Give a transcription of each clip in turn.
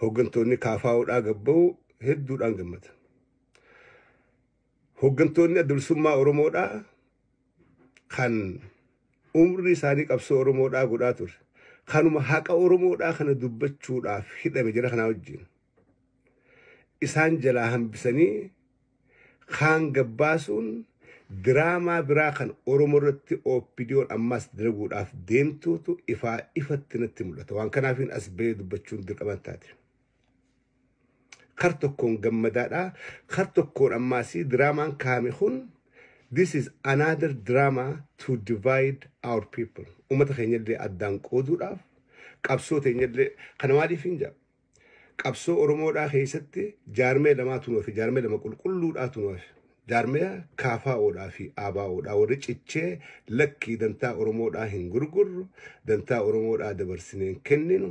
hooggantoonni kaafaa'uudhaa gabba'u hedduudhaan gammada. Hooggantoonni adda bilisummaa Oromoodhaa kan umrii isaanii qabsoo Oromoodhaa godhaa ture. Kanuma haqa Oromoodhaa kana dubbachuudhaaf hidhame jira kanaa wajjin. Isaan jalaa hambisanii kaan gabbaasuun diraamaa biraa kan Oromoo irratti OPDOn ammaas dalaguudhaaf deemtuutu ifaa ifatti natti mul'ata. Waan kanaafiin as ba'ee dubbachuun dirqama taate. Kar tokkoon gammadaadha. Kar tokkoon ammaas diraamaan kaame kun this is another drama to divide our people. Uummata keenyallee addaan qooduudhaaf qabsoo teenyallee kana maaliif hin jedhu? Qabsoo Oromoodhaa keessatti jaarmaya lamaatu nu hafe, jaarmaya lama qulqulluudhaatu nu hafe. Jaarmaya KFOdhaa fi ABOdhaa warri cichee lakkii dantaa Oromoodhaa hin gurgurru, dantaa Oromoodhaa dabarsinee hin kenninu,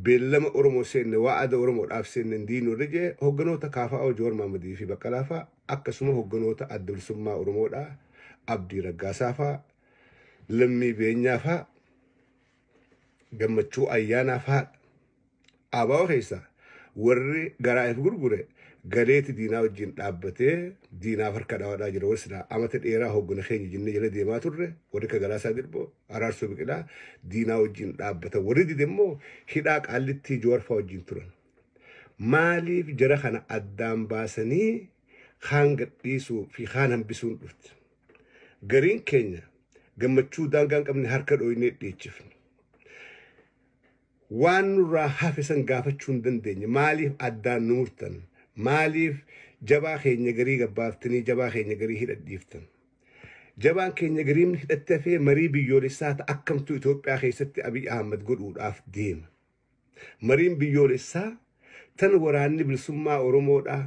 beellama Oromoo seenne, waa'ada Oromoodhaaf seenne hin diinu warri jee hogganoota KFO Joowar Maammadii fi Baqqalaa fa'a akkasuma hogganoota adda bilisummaa Oromoodhaa Abdii Raggaasaa fa'a, Lammii Beenyaa fa'a gammachuu ayyaanaaf haadha. Abaa'oo keessaa warri garaa if gurgure galeeti diinaa wajjin dhaabbatee diinaaf harka dhawadhaa jira. Warri silaa amata dheeraa hoggana keenya jennee jala deemaa turre warri akka Galaasaa Dilboo, Araarsoo Biqilaa diinaa wajjin dhaabbatan. Warri dide immoo hidhaa qaallittii Jawarfaa wajjin turan. Maaliif jara kana addaan baasanii kaan gadhiisuu fi kaan hambisuun dhufte? Gariin keenya gammachuu daangaa hin qabne harka dhooynee dhiichifne. Waan nurraa hafe san gaafachuu hin dandeenye. Maaliif addaan nu murtan? Maaliif jabaa keenya garii gabbaaftanii jabaa keenya garii hidhadhiiftan? Jabaan keenya gariin hidhattee hafee marii biyyoolessaa ta akkamtuu Itoophiyaa keessatti Abiy Ahmad godhuudhaaf deema. Mariin biyyoolessaa tan waraanni bilisummaa Oromoodhaa,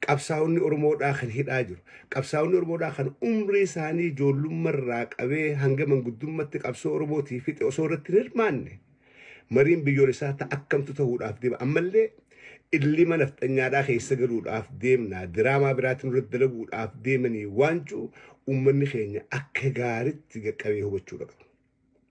qabsaa'onni Oromoodhaa kan hidhaa jiru, qabsaa'onni Oromoodhaa kan umrii isaanii ijoollumma irraa qabee hanga manguddummatti qabsoo Oromootii fixe osoo irratti hin hirmaanne, mariin biyyoolessaa ta akkamtu tahuudhaaf deema. Ammallee illima nafxanyaadhaa keessa galuudhaaf deemnaa, diraamaa biraatti nurratti dalaguudhaaf deemanii waan jiru uummanni keenya akka gaaritti qaqqabee hubachuudha qaba.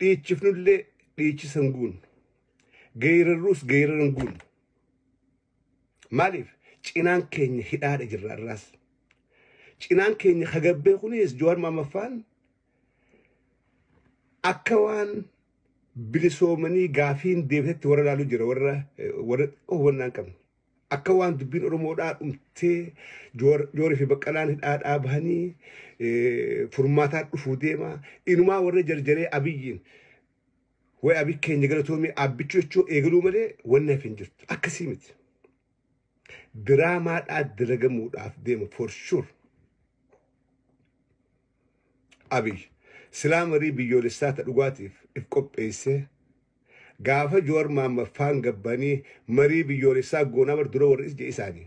Dhiichifnullee dhiichisa hin guunnu. Geerarruus geerara hin guunnu. Maaliif? Cinaan keenya hidhaadha jirra irraas. Cinaan keenya hagabbee kunis Jawaar Maammaffaan akka waan bilisoomanii gaafiin deebisetti warra ilaaluu jira warra warra hubannaa hin qabne. Akka waan dubbiin Oromoodhaa dhumtee Joor- Joorii fi Baqqalaan hidhaadhaa bahanii eh, furmaataan dhufuu deema. Inumaa warra jarjaree Abiyyiin way Abiy keenya galatoomii aabbichuu jechuu eegaluu malee wanni hafe hin jirtu. Akkasii miti. Diraamaadhaa dalagamuudhaaf deema for sure. Abiy silaa marii biyyoolessaa ta dhugaatiif if qopheessee gaafa Jawar Mahammad faan gabbanii marii biyyoolessaa goonaa bar dura warri ija isaani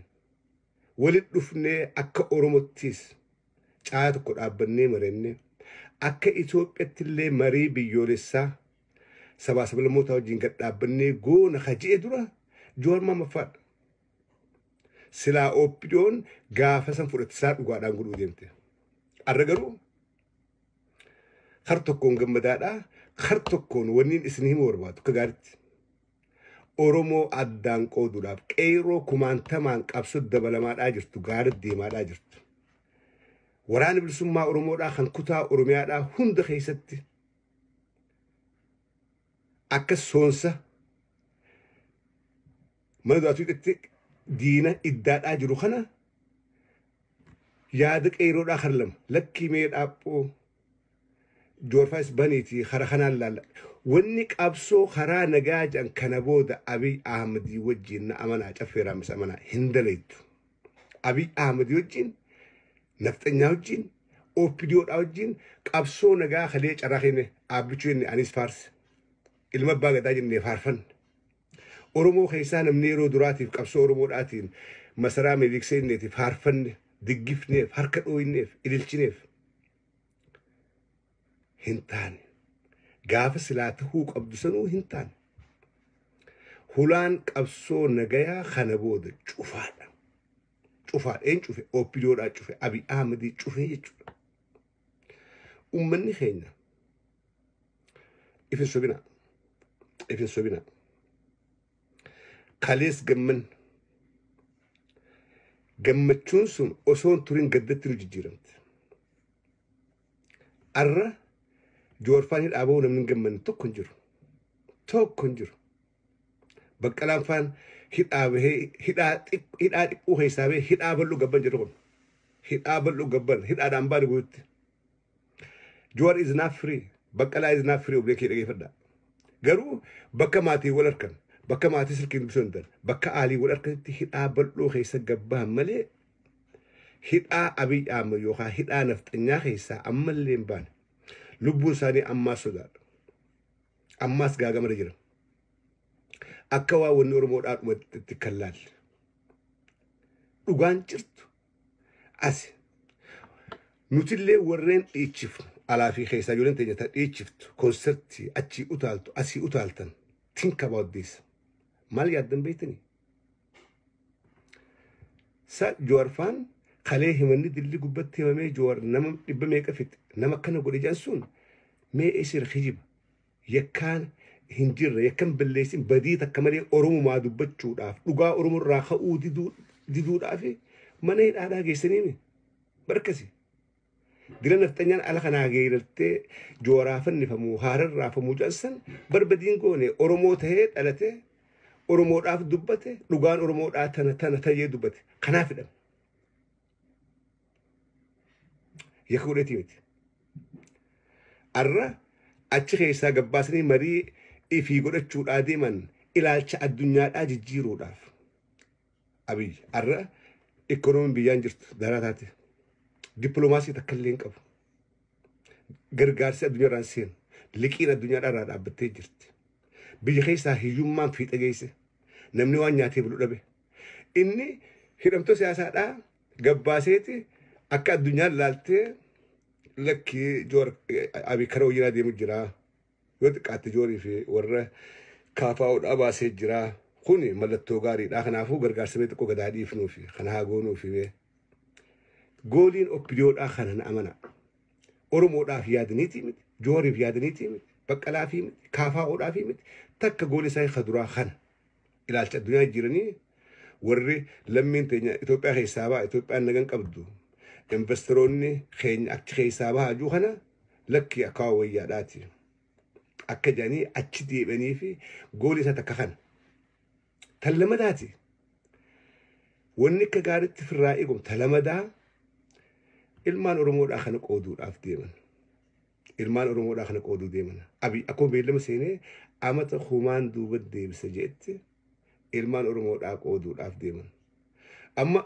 wali dhufnee akka Oromottiis caayaa tokko dhaabbannee marenne akka Itoophiyattillee marii biyyoolessaa sabaa sablammootaa wajjiin gad dhaabbannee goona ka je'e dura Jawar Mahammad faadha. Silaa OPDOn gaafa san fudhatisaa dhugaadhaan godhuu deemte. Arra garuu kar tokkoon gammadaadha. Kar tokkoon wanniin isin himuu barbaadu akka gaaritti. Oromoo addaan qooduudhaaf qeerroo kumaantamaan qabsoo dabalamaadhaa jirtu gaara deemaadhaa jirtu. Waraana bilisummaa Oromoodhaa kan kutaa Oromiyaadhaa hunda keessatti akka soonsa mana du'aatii dhaqxee diina iddaadhaa jiru kana yaada qeeroodhaa kara lama lakkii mee dhaaphoo joorfaayis baniitii kara kanaan laalla wanni qabsoo karaa nagaa jedhan kana booda abiy ahmadii wajjiin na amanaa caffeeraamis amanaa hin daleettu abiy ahmadii wajjiin nafxanyaa wajjiin ooppidiyoodhaa wajjiin qabsoo nagaa kalee carraa kenne aabbichuu inni anis faarse ilma abbaa gadaa jennee faarfanne Oromoo keessaa namni yeroo duraatiif qabsoo Oromoodhaatiin masaraa Minilik seenneetiif faarfanne, diggifneef, harka dhooyneef, ililchineef hin taane. Gaafa silaa tahuu qabdu sanuu hin taane. Hulaan qabsoo nagayaa kana booda cufaadha. Cufaadha. Een cufe. Oppidoodhaa cufe. Abi Ahmedii cufe jechuudha. Ummanni keenya ifin sobina ifin sobina kalees gamman gammachuun sun osoo hin turin gaddatti nu jijjiiramte. Arra joorfaan hidhaa ba'uu namni hin gammanne tokko hin jiru. Tokko hin jiru. Baqqalaan faan hidhaa bahee hidhaa xiq- hidhaa xiqqoo keessaa bahee hidhaa bal'oo gabban jedhu kun. Hidhaa bal'oo gabban hidhaadha hambaa nuguutti. Juwar is not free. Baqqalaa is not free oblee kee dhageeffadha. Garuu bakka maatii wal harkan bakka maatii silkiin dubbisuu hin danda'an bakka aalii wal harkanitti hidhaa bal'oo keessa gabbahan malee hidhaa abiy ahmed yookaan hidhaa nafxanyaa keessaa ammallee hin baane. Lubbuun isaanii ammaa sodaadha. Ammaas gaagamarra jira. Akka waa wanni Oromoo dhaadhumatti kan laalle. Dhugaan jirtu asi. Nutillee warreen dhiichifnu alaa fi keessaa ijoolleen teenya ta dhiichiftu konsertii achii utaaltu asii utaaltan think about this. Maal yaaddan beektanii? Sa Jawaarfaan kalee himanni dilli gubbatti himamee Jawaar nama dhibba meeqa fixe nama akkana godhe jedhan sun mee isir hijiba yakkaan hin jirre yakkan balleessin badii takka malee oromumaa dubbachuudhaaf dhugaa oromoo irraa ka'uu diduu diduudhaaf mana hidhaadhaa geessaniimi barkasi Dira nafxanyaan ala kanaa geerartee jooraa fannifamuu haaran raafamuu jansan barbadiin goone Oromoo tahee dhalate Oromoodhaaf dubbate dhugaan Oromoodhaa tana tana tayee dubbate kanaaf hidhame. Yakka godheetii miti. Arra achi keessaa gabbaasanii marii ifii godhachuudhaa deeman ilaalcha addunyaadhaa jijjiiruudhaaf. Abiy har'a ikkonoomiin biyyaan jirtu daraa taate dippiloomaasii takka illee hin qabu. Gargaarsi addunyaarraan seenu liqiin addunyaadhaa irraa dhaabbattee jirti. Biyya keessaa hiyyummaan fiixa geesse namni waan nyaatee bulu dhabe. Inni hidhamtoota siyaasaadhaa gabbaaseeti akka addunyaan laaltee lakkii joor abii kara wayyanaa deemu jiraa. Yoo xiqqaatte Joorii fi warra KFO dhaa baasee jiraa. Kuni mallattoo gaarii dhaa. Kanaafuu gargaarsa mee xiqqoo gad haa dhiifnuu fi kana haa goonuu fi mee. Gooliin OPDO dhaa kana na amanaa. Oromoo dhaaf yaadaniitii miti. Jooriif yaadaniitii miti. Baqqalaa fi miti. KFO dhaa fi miti. Takka goolii isaanii ka duraa kana. ilaalcha addunyaa jijjiiranii warri lammiin teenya Itoophiyaa keessaa ba'a Itoophiyaan nagan qabdu investeroonni keenya achi keessaa bahaa jiru kana lakkii akkaa wayyaadhaati akka jedhanii achi deebi'anii fi goolii isaa takka kana tan lamadaati wanni akka gaariitti firraa eegamu tan lamadaa ilmaan oromoodhaa kana qooduudhaaf deeman Ilmaan Oromoodhaa kana qooduu deeman. Abiy akkuma beellama seenee amata kumaan duuba deebisa jedhetti ilmaan Oromoodhaa qooduudhaaf deeman. Amma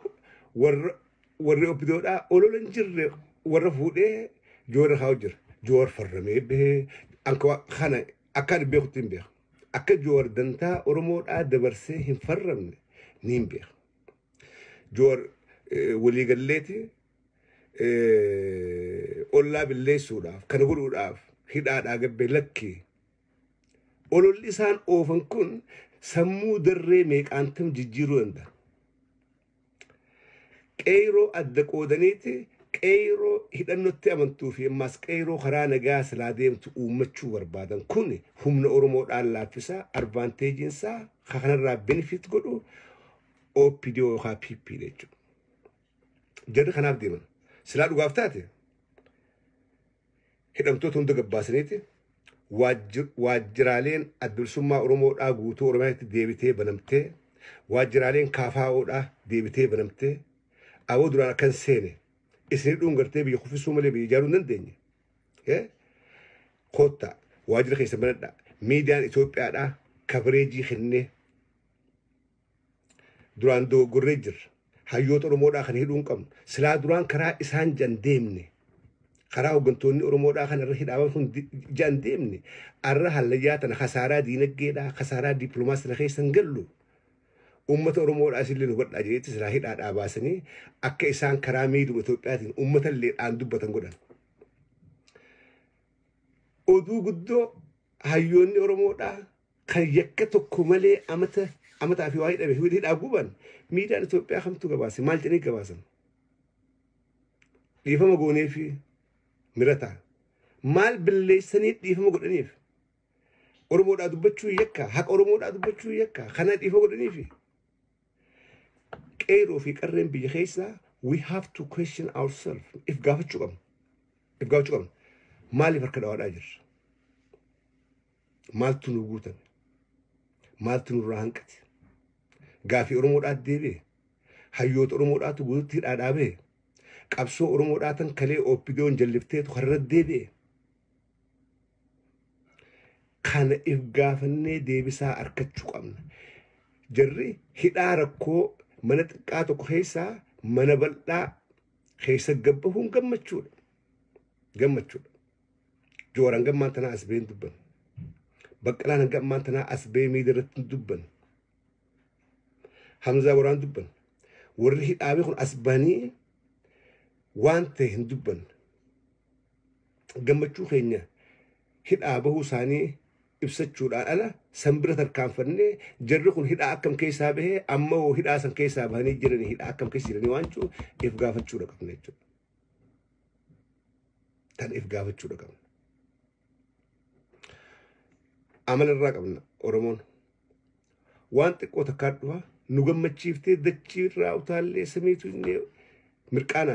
warra warri oppidoodhaa olola hin jirre warra fuudhee joora kaa'u jira. Joor farramee bahee anka kana akka ani beekutti hin beeku. Akka joor dantaa Oromoodhaa dabarsee hin farramne ni hin beeku. Joor waliigalleeti ollaa billeessuudhaaf kana godhuudhaaf hidhaadhaa gabbee lakki ololli isaan oofan kun sammuu darree meeqaantam jijjiiruu danda'a. Qeeyroo adda qoodaniiti qeeyroo hidhannotti amantuu fi ammaas qeeyroo karaa nagaa silaa deemtu uummachuu barbaadan kun humna Oromoodhaan laaffisaa advaanteejiin isaa kanarraa benefit godhu OPDO yookaan PP jechuudha. Jarri kanaaf deeman. Silaa dhugaaf taate hidhamtoota hunda gabbaasaniiti waajjiraaleen adbilsummaa Oromoo dhaa guutuu Oromiyaatti deebitee banamtee waajjiraaleen kaafaa'oo dhaa deebitee banamtee aboo duraan akkan seene isin hidhuun gartee biyya kuffisuu malee biyya ijaaruu hin dandeenye. Eh? Koottaa waajjira keessan banadhaa miidiyaan Itoophiyaa dhaa kabareejii kennee Duraan dogoggorree jirra. Hayyoota Oromoodhaa kana hidhuu hin qabnu. Silaa duraan karaa isaan jedhan deemne. Karaa hooggantoonni Oromoodhaa kana irra hidhaaman kun jedhan deemne. Arra hallayyaa tana kasaaraa diinaggeedhaa, kasaaraa dippiloomaas tana keessa hin gallu. Uummata Oromoodhaa isin illee hubadhaa jedheetti silaa hidhaadhaa baasanii akka isaan karaa miidhuma Itoophiyaatiin uummata illee dhaan dubbatan godhan. Oduu guddoo hayyoonni Oromoodhaa kan yakka tokko malee amata amataa fi waa hidhame fi hidhaa guban miidiyaan Itoophiyaa kamtu gabaase maal jedhanii gabaasan dhiifama goonee fi mirataa maal billeessanii dhiifama godhaniif Oromoodhaa dubbachuu yakka haqa Oromoodhaa dubbachuu yakka kana dhiifama godhanii fi qeeroo fi qarreen biyya keessaa we have to question ourselves if gaafachuu qabna if gaafachuu qabna maaliif harka dhawaadhaa jirra maaltu nu guutame maaltu nurraa hanqate gaafii oromoodhaa deebi'e hayyoota oromoodhaatu guututti hidhaa dhaabee qabsoo oromoodhaa tan kalee ooppidoon jallifteetu karra deebi'e kana if gaafannee deebisaa arkachuu qabna jarri hidhaa rakkoo mana xiqqaa tokko keessaa mana bal'aa keessa gabbahuun gammachuudha gammachuudha Joor hanga ammaan tanaa as bahee hin dubbanne. Baqqalaan hanga ammaan tanaa as bahee miidiyaa irratti hin dubbanne. Hamzaa waraan dubbanne. Warri hidhaamee kun as bahanii waan ta'e hin dubbanne. Gammachuu keenya hidhaa bahuu isaanii ibsachuudhaan ala san bira tarkaanfannee jarri kun hidhaa akkam keessaa bahee amma hoo hidhaa san keessaa bahanii jiranii hidhaa akkam keessa jiranii waan jiru if gaafachuudha qabna jechuudha. Kan if gaafachuudha qabna. Amala irraa qabna Oromoon. Waan xiqqoo takkaa dhufa nu gammachiiftee dachii irraa utaallee samiitu inni mirqaana.